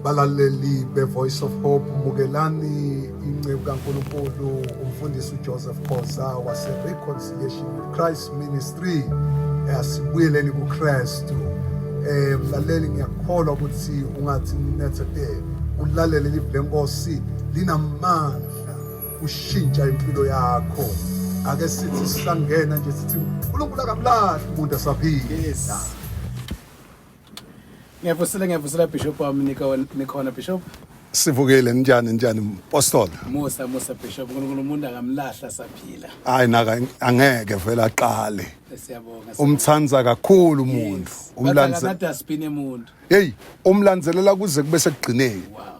Balaleli be-Voice of Hope, bukelani inceku kaNkulunkulu umfundisi uJoseph Khoza wase-Reconciliation with Christ Ministry asibuyeleni kuKristu. Eh mlaleli ngiyakholwa ukuthi ungathi nethete ulalele live lenkosi linamandla ushintsha impilo yakho. Ake sithi sangena nje sithi uNkulunkulu akamlahli umuntu asaphila. Yes. Ngiyavusela ngiyavusela Bishop wami nikhona nikhona Bishop. Sivukile njani njani mpostola. Musa musa Bishop uNkulunkulu umuntu akamlahla saphila. Hayi naka angeke vela aqale. Siyabonga. Umthanda kakhulu umuntu. Umlandze. Umlandze. Hey umlandzelela kuze kube sekugcineni. Wow.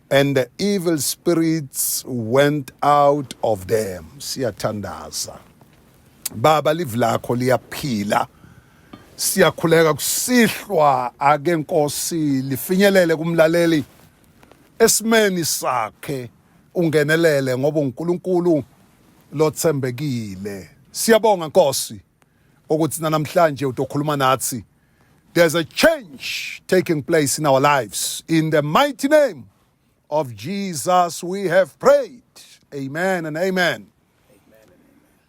and the evil spirits went out of them siyathandaza baba live lakho liyaphila siyakhuleka kusihlwa ake nkosi lifinyelele kumlaleli esimeni sakhe ungenelele ngoba uNkulunkulu lothembekile siyabonga nkosi ukuthi namhlanje utokhuluma nathi there's a change taking place in our lives in the mighty name of Jesus we have prayed amen and amen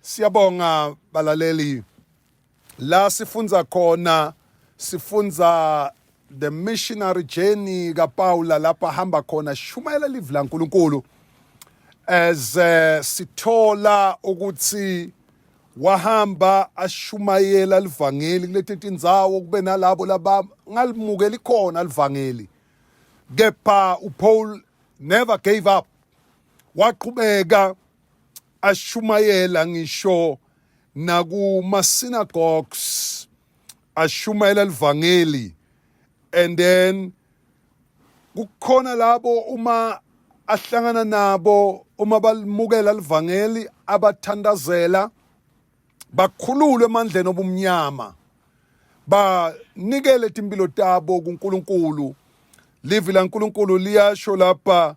siyabonga balaleli la sifunza khona sifunza the missionary journey kaPaula lapha hamba khona shumayela live laNkulunkulu as uh, sithola ukuthi wahamba ashumayela livangeli kuleti tindzawo kube nalabo laba ngalimukeli khona livangeli kepha uPaul never gave up waqhubeka ashumayela ngisho nakuma synagogues ashumayela livangeli and then kukhona labo uma ahlangana nabo uma balimukela livangeli abathandazela bakhululwe emandleni obumnyama banikele timpilo tabo kuNkulunkulu livi laNkulunkulu liyasho lapha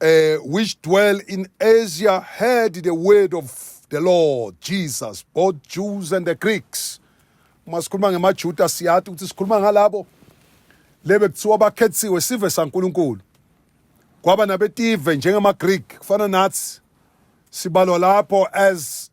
uh, which dwell in Asia heard the word of the Lord Jesus, both Jews and the Greeks. Uma sikhuluma ngemaJuda siyathi ukuthi sikhuluma ngalabo lebe kuthiwa bakhethiwe sive saNkulunkulu. Kwaba nabetive njengamaGreek kufana nathi sibalwa lapho as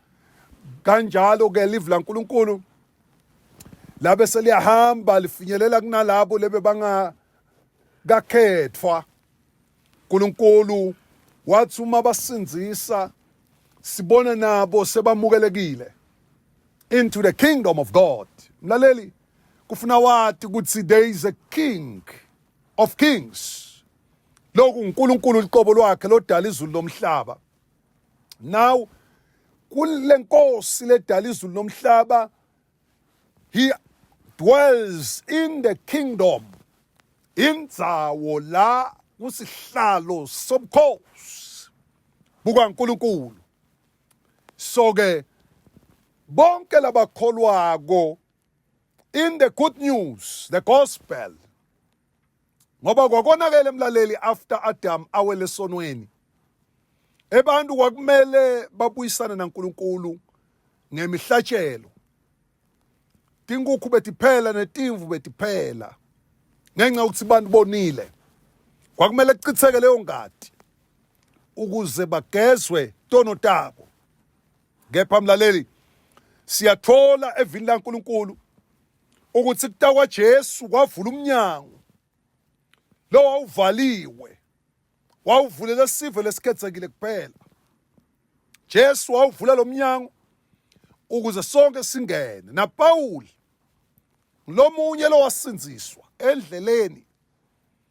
kanjalo ke live laNkulunkulu labe seliyahamba lifinyelela kunalabo lebe banga kakhethwa uNkulunkulu wathi uma basindisa sibona nabo sebamukelekile into the kingdom of God mlaleli kufuna wathi ukuthi there is a king of kings lokhu uNkulunkulu liqobo lwakhe lodala izulu lomhlaba now kule nkosi ledala izulu nomhlaba he dwells in the kingdom indzawo la kusihlalo sobukhosi bukaNkulunkulu so ke bonke labakholwako in the good news the gospel ngoba kwakonakele mlaleli after Adam awele sonweni ebantu kwakumele babuyisane naNkulunkulu ngemihlatshelo tinkukhu betiphela netimvu betiphela ngenxa ukuthi abantu bonile kwakumele kuchitheke leyo ngadi ukuze bagezwe tono tabo kepha mlaleli siyathola evini laNkulunkulu ukuthi kuta kwaJesu kwavula umnyango lo wawuvaliwe wawuvulela sive lesikhethekile kuphela Jesu wawuvula lo mnyango ukuze sonke singene naPawuli lomunye lowasindziswa endleleni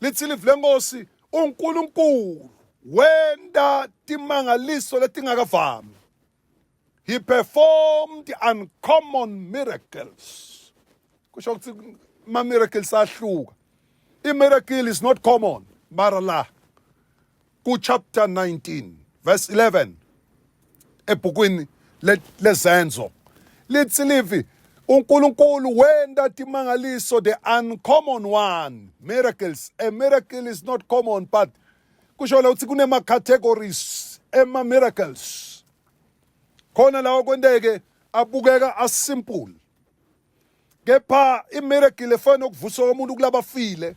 Lithi live lenkosi uNkulunkulu wenta timangaliso letingakavami. He performed uncommon miracles. Kusho ukuthi ma miracles ahluka. I miracle is not common, mara la. ku chapter 19 verse 11 ebhukwini lezenzo lithi livi uNkulunkulu wenda timangaliso the uncommon one miracles a miracle is not common but kusho la ukuthi kunema categories ema miracles khona lawo kwenteke abukeka asimple kepha imiracle efana nokuvusa komuntu kulabafile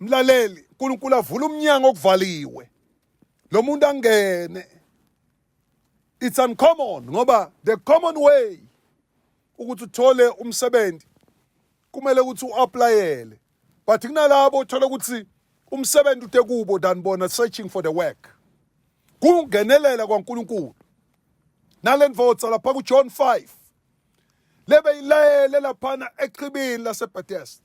mlaleli uNkulunkulu avula umnyango okuvaliwe lo muntu angene it's uncommon ngoba the common way ukuthi uthole umsebenzi kumele ukuthi uapplyele but kunalabo othola ukuthi umsebenzi ude kubo than bona searching for the work kungenelela kwaNkuluNkulu nalenvotsa lapha kuJohn 5 lebe ilayele laphana echibini laseBethesda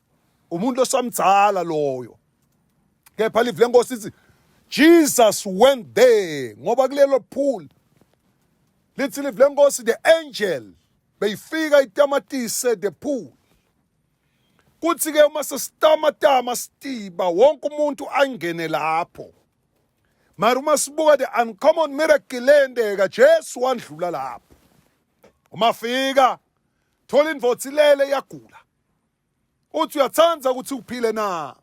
umuntu osamdzala loyo kepha live lenkosi ithi Jesus went there ngoba kulelo pool lithi live lenkosi the angel beyifika itamatise the pool kuthi ke uma sesitamatama sitiba wonke umuntu angene lapho mara uma sibuka the uncommon miracle lendeka Jesu wandlula lapho uma fika thola indvodzi lele yagula uthi uyathanda ukuthi uphile na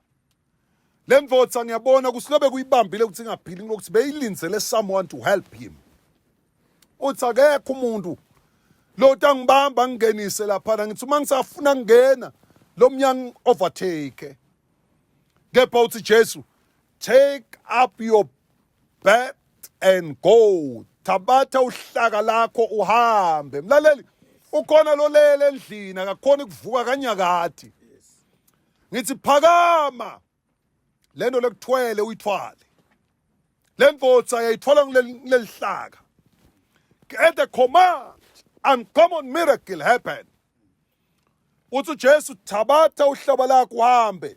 le mvotsa ngiyabona ukuthi lobe kuyibambile ukuthi ingaphili ngokuthi beyilindzele someone to help him uthi akekho umuntu lo tangibamba ngingenise laphana ngithi uma ngisafuna kungena lo mnyango overtake kepha uthi Jesu take up your Back and go. Thabatha uhlaka lakho uhambe. Mlaleli, ukhona lolele endlini akakhona ukuvuka kanyakati. Ngithi phakama. Lento lekuthwele uyithwale. Lembotsa yayithwala kulelihlaka. At the command, uncommon miracle happened. Uthi uJesu thabatha uhlaba lakho uhambe.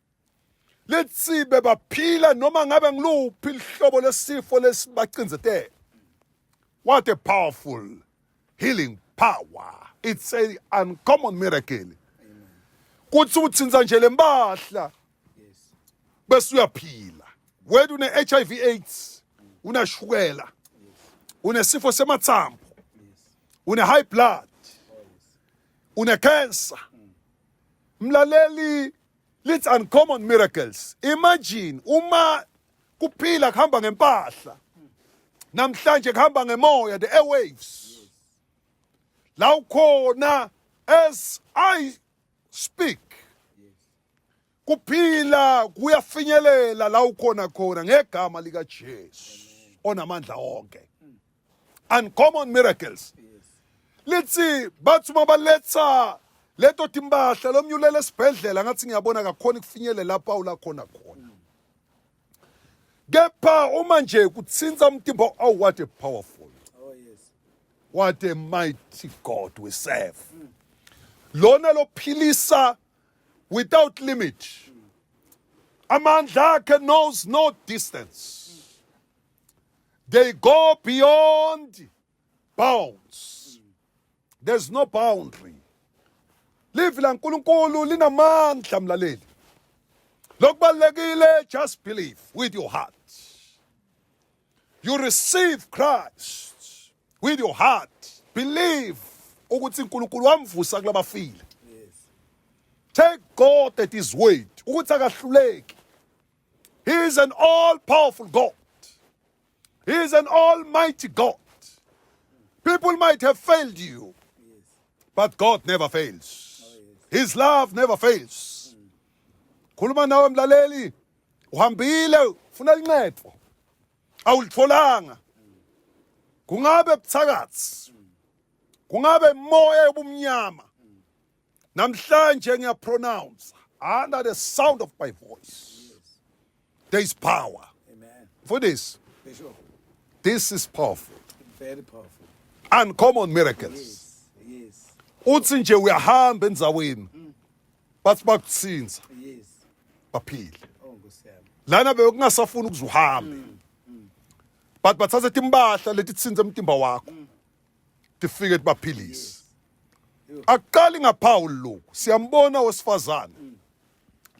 let's see bebaphila noma ngabe ngiluphi lihlobo lesifo lesibacinzetele what a powerful healing power it's a uncommon miracle kuthi uthinza nje lempahla bese uyaphila wena une HIV AIDS unashukela unesifo semathambo une high blood une cancer mlaleli It's uncommon miracles. Imagine uma kuphila kuhamba ngempahla. Namhlanje kuhamba ngemoya the airwaves. La ukhona as I speak. Kuphila kuyafinyelela la ukhona khona ngegama lika Jesu onamandla onke. uncommon miracles lithi bathi uma baletha leto timbahla lomnyulele esibhedlela ngathi ngiyabona kakhona ikufinyele lapha ulakhona khona kepha uma nje kuthinta umtimba oh what a powerful oh yes what a mighty god we serve mm. lona lophilisa without limit amandla akhe knows no distance They go beyond bounds. There's no boundary. Live la Nkulunkulu linamandla mlaleli. Lokubalekile just believe with your heart. You receive Christ with your heart. Believe ukuthi uNkulunkulu wamvusa kulabafile. Take God at his word ukuthi akahluleki. He is an all powerful God. He is an almighty God. People might have failed you, but God never fails. His love never fails. Khuluma nawe mlaleli, uhambile ufuna incedo. Awulitholanga. Kungabe buthakathi. Kungabe imoya yobumnyama. namhlanje ngiyapronounce under the sound of my voice there is power Amen. for this Bishop, this is powerful very powerful. uncommon miracles Yes. Yes. uthi nje uyahamba endzaweni bathi bakuthinza Yes. baphile Oh, Nkosi yami. lana bekungasafuni ukuze uhambe but bathatha timpahla letithinza emtimba wakho tifike tibaphilise akuqali ngaphawu lokhu siyambona wesifazane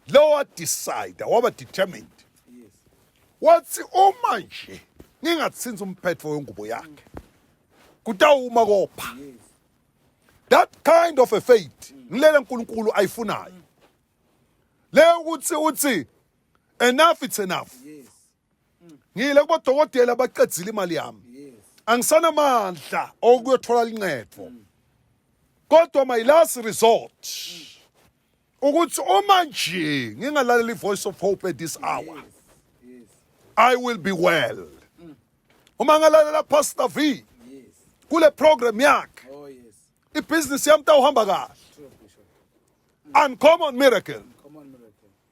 lowa decide waba determined wathi uma nje ngingathinzi umphetho wengubo yakhe kutawuma kopha that kind of a faith ngilele uNkulunkulu ayifunayo le ukuthi uthi enough it's enough ngiyile kubodokotela baqedzile imali yami angisanamandla okuyothola lincedo kodwa my last resort ukuthi uma nje ngingalalela ivoice of hope at this hour i will be well uma ngalalela pastor v kule program yakhe oh, ibhizinisi yami tawuhamba kahle uncommon miracle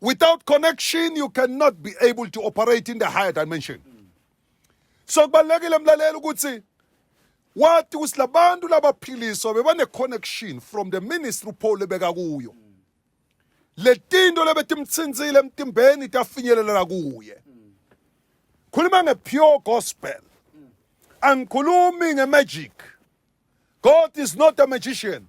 Without connection you cannot be able to operate in the higher dimension. So kubalekile mlaleli ukuthi wathi ukuthi labantu labaphiliswa bebane connection from the ministry Paul lebeka kuyo. Letinto lebetimtsinzile emtimbeni tafinyelela kuye. Khuluma nge pure gospel. Angikhulumi nge magic. God is not a magician.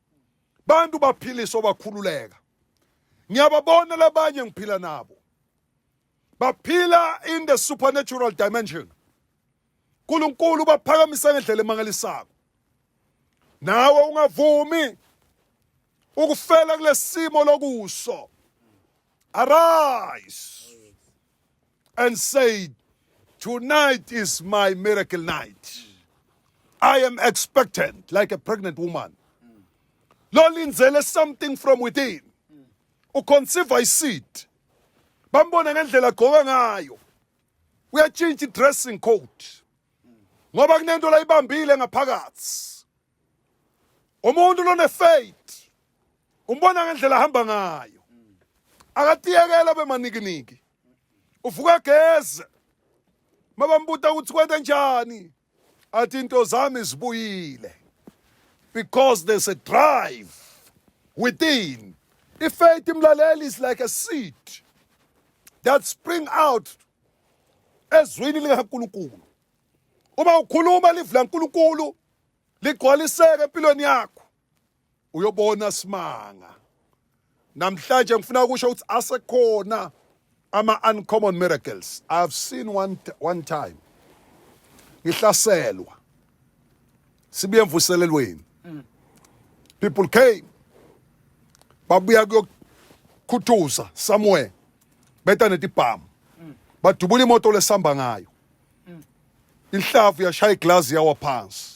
bantu baphilisa obakhululeka ngiyababona labanye ngiphila nabo baphila in the supernatural dimension uNkulunkulu baphakamisa ngendlela emangalisako nawe ungavumi ukufela kulesimo lokuso arise and said, Tonight is my miracle night. I am expectant like a pregnant woman. Lolinzele something from within. Uconceive a seed. Bambona ngendlela agqoka ngayo. Uyatshintsha i-dressing code. Ngoba kunento la ibambile ngaphakathi. Umuntu lone faith. Umbona ngendlela ahamba ngayo. Akatiyekela bemanikiniki. uvuka geze mabambuta ukuthi kwenta njani athi into zami zibuyile because there's a drive within ifaith imlaleli is like a seed that spring out ezwini likaNkulunkulu uma ukhuluma livula uNkulunkulu ligcwaliseke empilweni yakho uyobona simanga namhlanje ngifuna ukusho ukuthi asekhona ama-uncommon miracles i have seen one, one time ngihlaselwa sibuye emvuselelweni people came babuya kuyokhuthuza somewhere beta netibhamu badubula imoto lesihamba ngayo inhlavu yashaya iglazi yawa phansi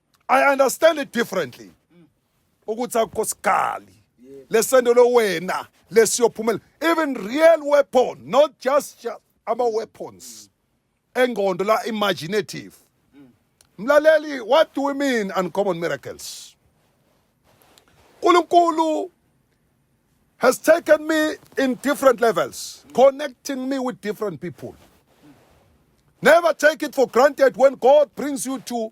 I understand it differently ukuthi akukho sigali lesento lo wena lesiyophumela even real weapon not just ama weapons engqondo la imaginative mlaleli what do we mean uncommon miracles uNkulunkulu has taken me in different levels, connecting me with different people. Never take it for granted when God brings you to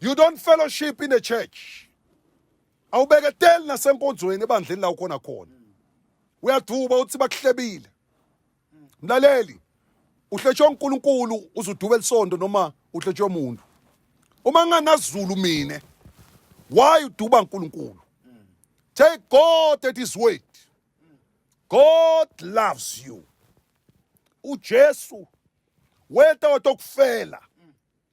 You don't fellowship in the church. Awubeketeli nasenkonzweni ebandleni la ukhona khona. Uyaduba uthi bakuhlebile. Mlaleli, uhletshwe uNkulunkulu uzuduba elisondo noma uhletshwe umuntu. Uma nganazulu mina, why uduba uNkulunkulu? Take God at his word. God loves you. UJesu weta watokufela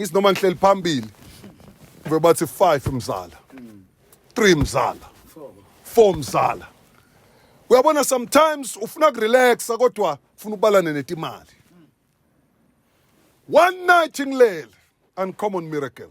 ngithi noma ngihleli phambili kube bathi 5 mzala 3 mzala 4 mzala uyabona sometimes ufuna kurelaxa kodwa ufuna ubalane netimali one night ngilele uncommon miracle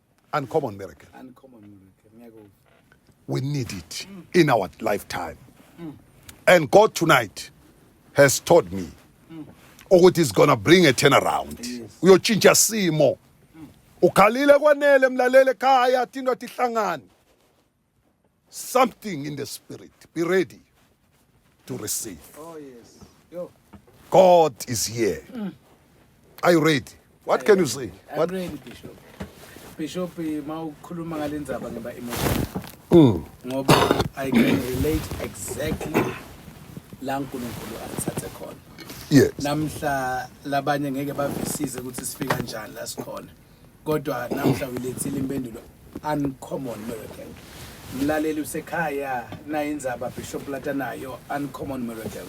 Uncommon miracle. Uncommon miracle. We need it in our lifetime. And God tonight has told me ukuthi is gonna bring a turnaround. Uyotshintsha simo. Ukhalile kwanele mlalele ekhaya athi indoda ihlangane. something in the spirit. Be ready to receive. Oh, yes. Yo. God is here. Mm. Are you ready? What I can am. you say? I'm what? ready, Bishop. Bishop, eh, ma ukhuluma ngale ndzaba ngeba emotion. Mm. Ngoba I can relate exactly la uNkulunkulu angithathe khona. Yes. Namhla labanye ngeke bavisize ukuthi sifika njani la sikhona. kodwa namhla uyilethile impendulo uncommon miracle mlaleli usekhaya naye inzaba bishop latanayo uncommon miracle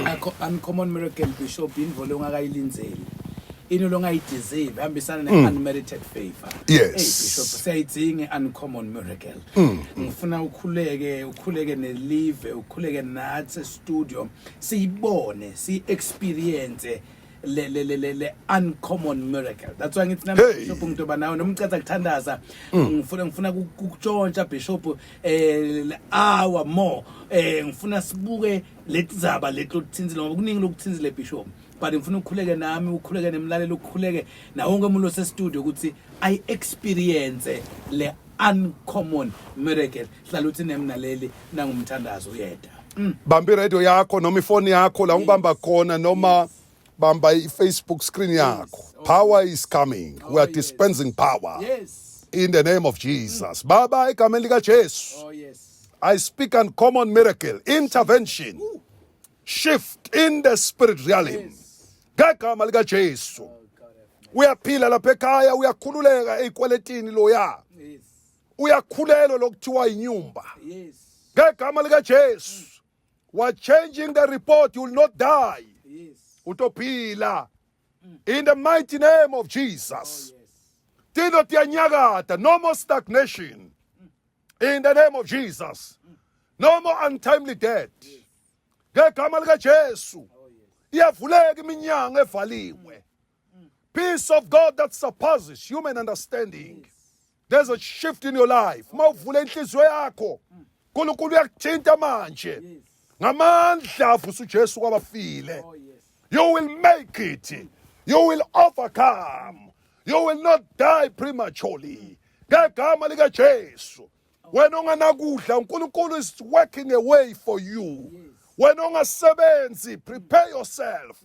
akho uncommon miracle bishop indvo longakayilindzeli into longayideserve hambisana ne unmerited favor Mm. Yes. Mm. hey bishop siyayidzinga uncommon miracle ngifuna ukhuleke ukhuleke nelive ukhuleke nathi studio siyibone si experience le le le le, le uncommon miracle that's why ngithi nami Hey. bishop ngitoba nawe noma ucatha kuthandaza ngifuna ngifuna ku- kukutshontsha bishop eh le hour more eh ngifuna sibuke letizaba lethi lothinzile ngoba kuningi lokuthinzile bishop but ngifuna ukukhuleke nami ukhuleke nemlalelo ukukhuleke nawo wonke umuntu osestudio ukuthi i experience le uncommon miracle hlala uthi nemnaleli nangumthandazo uyeda mm. bamba iradio yakho noma ifoni yakho la ungibamba khona noma bamba i-facebook screen yakho oh. power is coming oh, we are dispensing power yes. in the name of jesus mm. baba egameni likajesu oh, yes. i speak uncommon miracle intervention Ooh. shift in the spirit realm yes. ngegama likajesu oh, uyaphila lapha ekhaya uyakhululeka ey'kweletini loya yes. uyakhulelwa lokuthiwa inyumba ngegama likaJesu wa changing the report you will not die utophila mm. in the mighty name of Jesus oh, tino tiyanyakata no more stagnation mm. in the name of Jesus mm. no more untimely death ngegama likaJesu oh, iyavuleka iminyango evaliwe Peace of God that surpasses human understanding. There's a shift in your life. Uma uvula inhliziyo yakho, uNkulunkulu uyakuthinta manje. Ngamandla avusa uJesu kwabafile. Oh, you will make it. You will overcome. You will not die prematurely. Ngegama lika Jesu. Wena onganakudla uNkulunkulu is working a way for you. Wena ongasebenzi prepare yourself.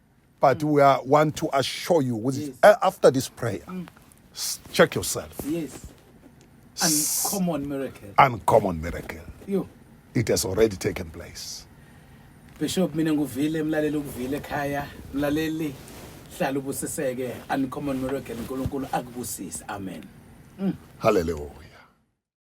but we are, want to assure you with yes. uh, after this prayer mm. check yourself yes uncommon miracle uncommon miracle you it has already taken place bishop mina nguvile mlaleli ukuvile ekhaya mlaleli hlala ubusiseke uncommon miracle uNkulunkulu akubusise amen mm. hallelujah